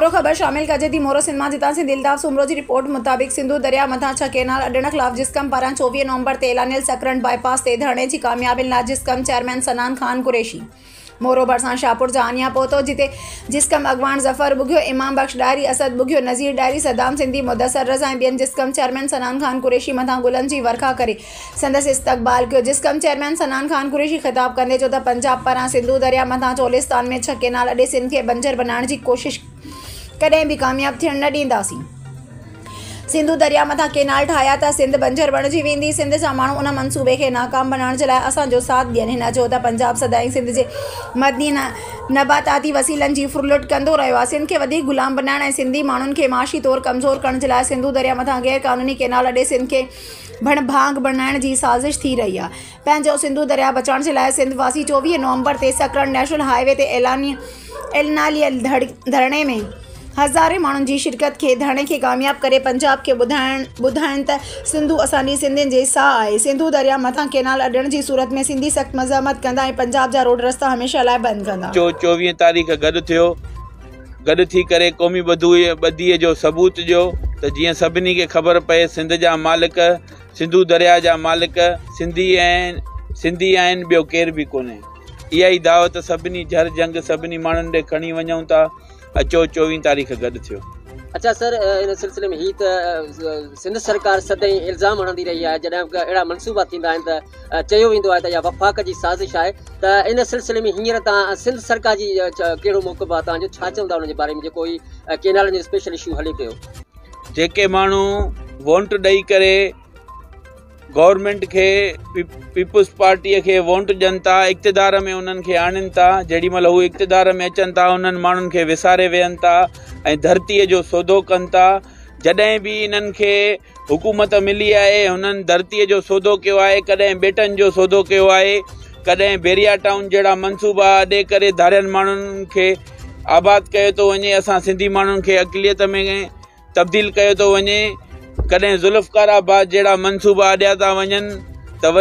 مورو خبر شامل ڪجي ٿي مورو سينما جتان سنڌي الطاف سومرو جي رپورٽ مطابق سنڌو درياء مٿان ڇهه ڪينال اڏڻ خلاف جسقم پاران چوويهه نومبر تي اعلانيل سڪرنڊ باء پاس تي ڌرڻي جي ڪاميابين لاء جسقم چيئرمين سنان خان قريشي مورو ڀرسان شاهپور جهانيان پهتو جتي جسقم اڳواڻ ظفر ٻگهيو امام بخش ڏاهري اسد ٻگهيو نذير ڏاهري صدام سنڌي مدثر رضا ۽ ٻين جسقم چيئرمين سنان خان قريشي مٿان گلن جي ورکا ڪري سندس استقبال ڪيو. جسقم چيئرمين صنعان خان قريشي خطاب ڪندي چيو ته پنجاب پران سنڌو درياء مٿان چولستان ۾ ڇهه ڪينال اڏي سنڌ کي بنجر بنائڻ جي ڪوشش ڪڏهن به ڪامياب ٿيڻ نه ڏينداسين. سنڌو درياء مٿان ڪينال ٺاهيا ته سنڌ بنجر بڻجي ويندي. سنڌ جا ماڻهو ان منصوبي کي ناڪام بنائڻ جي لاء اسان جو ساٿ ڏين. هن چيو ته پنجاب سدائين سنڌ جي معدني ۽ نباتاتي وسيلن جي ڦرلٽ ڪندو رهيو آهي. سنڌ کي وڌيڪ غلام بنائڻ ۽ سنڌي ماڻهن کي معاشي طور ڪمزور ڪرڻ جي لاء سنڌو درياء مٿان غير قانوني ڪينال اڏي سنڌ کي ڀڻ ڀاڱ بڻائڻ جي سازش ٿي رهي آهي. پنهنجو سنڌو درياء بچائڻ جي لاء سنڌ واسي چوويهه نومبر تي سڪرنڊ نيشنل هاء وي تي اعلانيه ڌرڻي ۾ هزارين ماڻهن جي شرڪت ڪري ڌرڻي کي ڪامياب ڪري پنجاب کي ٻڌاين ته سنڌو اسان جي سنڌين جي ساهه آهي سنڌو درياء مٿان ڪئنال اڏڻ جي صورت ۾ سنڌي سخت مزاحمت ڪندا ۽ پنجاب جا روڊ رستا هميشه لاء بند ڪندا. چوويهه تاريخ گڏ ٿيو. گڏ ٿي ڪري قومي ٻڌي جو ثبوت ڏيو ته جيئن سڀني کي خبر پئي سنڌ جا مالڪ سنڌو درياء جا مالڪ سنڌي ۽ سنڌي آهن ٻيو ڪير به ڪونهي اها ئي دعوت سڀني جھر جنگ سڀني ماڻهن ڏي کڻي وڃون ٿا اچو چوويهه تاريخ گڏ ٿيو اچا سر ان سلسلي ۾ هي ته سنڌ سرڪار سدائين الزام هڻندي رهي آهي جڏهن اهڙا منصوبا ٿيندا آهن ته چيو ويندو آهي ته اها وفاق جي سازش آهي ته ان سلسلي ۾ هينئر تان سنڌ سرڪار جي ڪهڙو موقف آهي تان جو ڇا چوندا ان جي باري ۾ جيڪو هي ڪينالن جو اسپيشل اشو هلي پيو جيڪي ماڻهو وونٽ ڏئي ڪري گورنمنٽ کي پيپلز پارٽي کي وونٽ ڏين ٿا اقتدار ۾ انهن کي آڻين ٿا جيڏي مهل هو اقتدار ۾ اچن ٿا انهن ماڻهن کي وساري ويهن ٿا ۽ ڌرتيء جو سودو ڪن ٿا جڏهن به انهن کي حڪومت ملي آهي هنن ڌرتي جو سودو ڪيو آهي ڪڏهن ٻيٽن جو سودو ڪيو آهي ڪڏهن بيريا ٽائون جهڙا منصوبا اڏي ڪري ڌارين ماڻهن کي آباد ڪيو ٿو وڃي اسان سنڌي ماڻهن کي اقليت ۾ تبديل ڪيو ٿو وڃي ڪڏهن ذوالفقار آباد جهڙا منصوبا اڏيا ٿا وڃن ته وري